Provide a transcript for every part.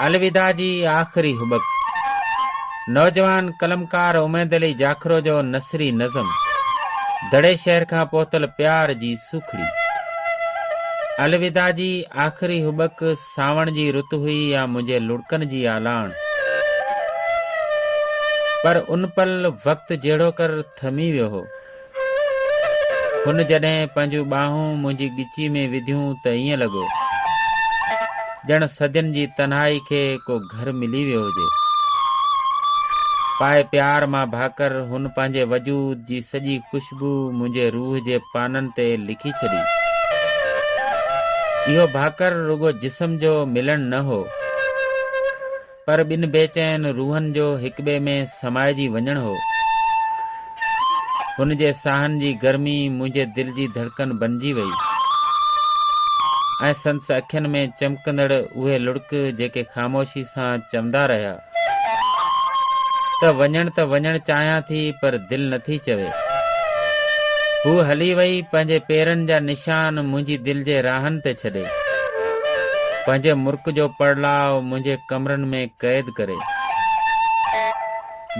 الوداع جي آخري هٻڪ. نوجوان قلمڪار اميد علي جاکرو جو نثري نظم دڙي شهر کان پهتل پيار جي سوکڙي. الوداع جي آخري هٻڪ سانوڻ جي رت هئي يا منهنجي لڙڪن جي آلاڻ. پر ان پل وقت جهڙوڪر ٿمي ويو هو. هن جڏهن پنهنجون ٻانهون منهنجي ڳچيء ۾ وڌيون ته ائين لڳو ڄڻ صدين جي تنهائي کي ڪو گهر ملي ويو هجي. پائي پيار مان ڀاڪر هن پنهنجي وجود جي سڄي خوشبو منهنجي روح جي پانن تي لکي ڇڏي. اهو ڀاڪر رڳو جسم جو ملڻ نه هو. پر ٻن بي چين روحن جو هڪٻئي ۾ سمائجي وڃڻ هو. هن جي ساهن جي گرمي منهنجي دل جي ڌڙڪن بنجي وئي ۽ سندس اکين ۾ چمڪندڙ اهي لڙڪ جيڪي خاموشي سان چوندا رهيا ته وڃڻ ته وڃڻ چاهيان ٿي پر دل نٿي چوي. هوء هلي وئي پنهنجي پيرن جا نشان منهنجي دل جي راهن تي ڇڏي. پنهنجي مرڪ جو پڙلاء منهنجي ڪمرن ۾ قيد ڪري.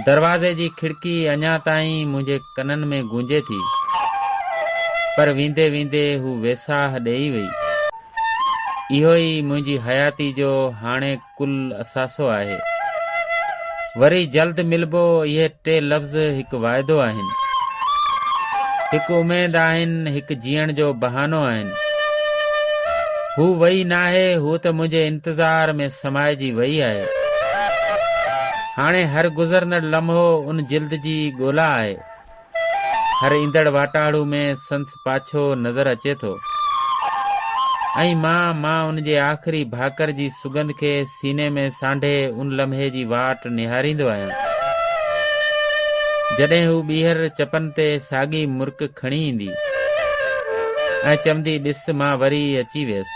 دروازي جي کڙڪي اڃا تائين منهنجي ڪنن ۾ گونجي ٿي، پر ويندي ويندي هو ويساهه ڏيئي وئي. اهو ئي منهنجي حياتي جو هاڻي. ڪل اثاثو آهي. وري جلد ملبو اهي ٽي لفظ هڪ واعدو آهن. هڪ اميد آهن، هڪ جيئڻ جو بهانو آهن. هو وئي ناهي، هو ته منهنجي انتظار ۾ سمائجي وئي آهي. هاڻي هر گذرندڙ لمحو ان جلد جي ڳولا آهي. هر ايندڙ واٽاڙو ۾ سنس پاڇو نظر اچي ٿو ۽ مان مان ان جي آخري ڀاڪر جي سگنڌ کي سيني ۾ سانڍي ان لمحي جي واٽ نهاريندو آهيان جڏهن هو ٻيهر چپن تي ساڳي مرڪ کڻي ايندي ۽ چوندي ڏس مان وري اچي ويس.